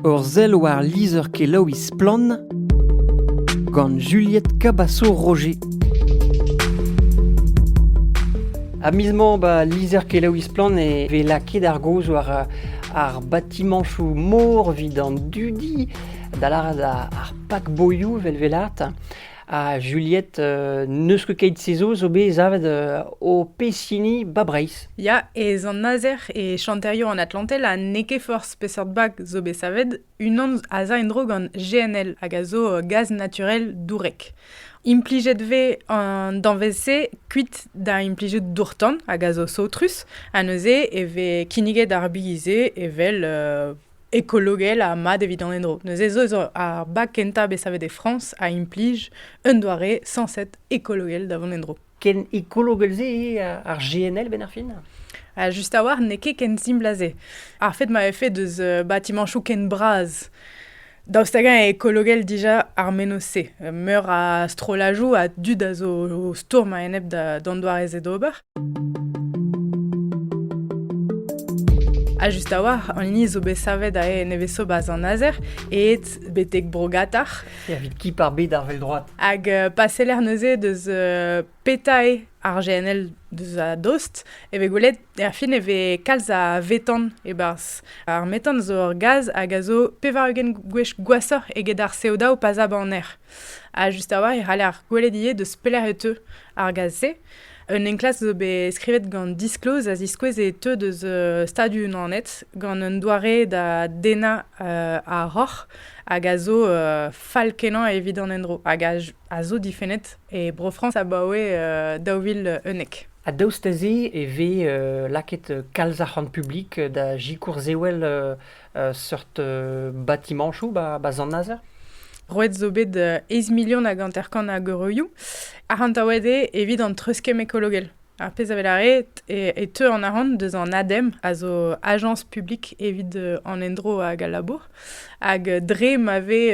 Ur sell war lizher-kelaouiñ Splann! gant Juliette Cabasso-Roger. Ha miz-mañ, ba, lizher-kelaouiñ Splann! e vez lakaet ar gaoz war ar batimanchoù mor evit an dudi, da lâret ar pak-boioù 'vel 'velat. Ha Juliette, euh, n'eus ket keit se zo, zo bet savet euh, o pezh ba Breizh. Ya, e Zant-Nazer e chanterioù an Atlantel ha n'eo ket forzh peseurt bag zo bet savet, unan a za en-dro gant GNL hag a zo euh, gaz naturel dourek. Implijet vez an danvez-se kuit da implijout dourtan hag a zo saotrus, ha neuze e vez kinniget ar bize evel ekologel ha mat evit an endro. Neuze zo zo ar bag kentañ bet savet e Frañs a implij un doare sañset ekologel da vont en-dro. Ken ekologel-se eo ar GNL benn ar fin ha Just a-walc'h n'eo ket ken simpl a se. Ar fed ma vefe deus batimañchoù ken bras daoust hag-eñ eo ekologel dija ar menoz-se? Meur a strollajoù a dud a zo o stourm a-enep d'an doare-se d'ober. Ha just a-walc'h, an hini zo bet savet aze nevez-sobas an azer, eet betek Brogatar. Evit ki par bet ar vel-droad. Hag euh, pa seller neuze deus euh, petae ar GNL deus a dost, e vez gwelet, er fin e vez kalz a vetan e-barzh. Ar metan zo ur gaz hag a zo pevar-ugent gwech gwasoc'h eget ar CO2 o pazañ baner. Ha just a-walc'h e c'haller gwelet ivez deus pelec'h e teu ar gaz-se. Un enklask zo bet skrivet gant Disclose a ziskouez e teu deus uh, Stadoù-Unanet gant un doare da dennañ uh, ar roc'h hag a zo uh, fall-kenañ evit an endro hag a, a zo difennet e Bro-Frañs abaoe uh, daou vil unnek. Ha daoust da se e vez uh, lakaet kalz arc'hant publik da sikour sewell uh, seurt batimanchoù ba, ba Sant-Nazer. Roet zo bet eiz milion hag hanter-kant a geureioù. Arc'hantaouet eo evit an treuskemm ekologel. Ar pezh a lâret e, e teu an arc'hant deus an ADEM, a zo Agence publique evit an endro hag al labour. Hag dre ma vez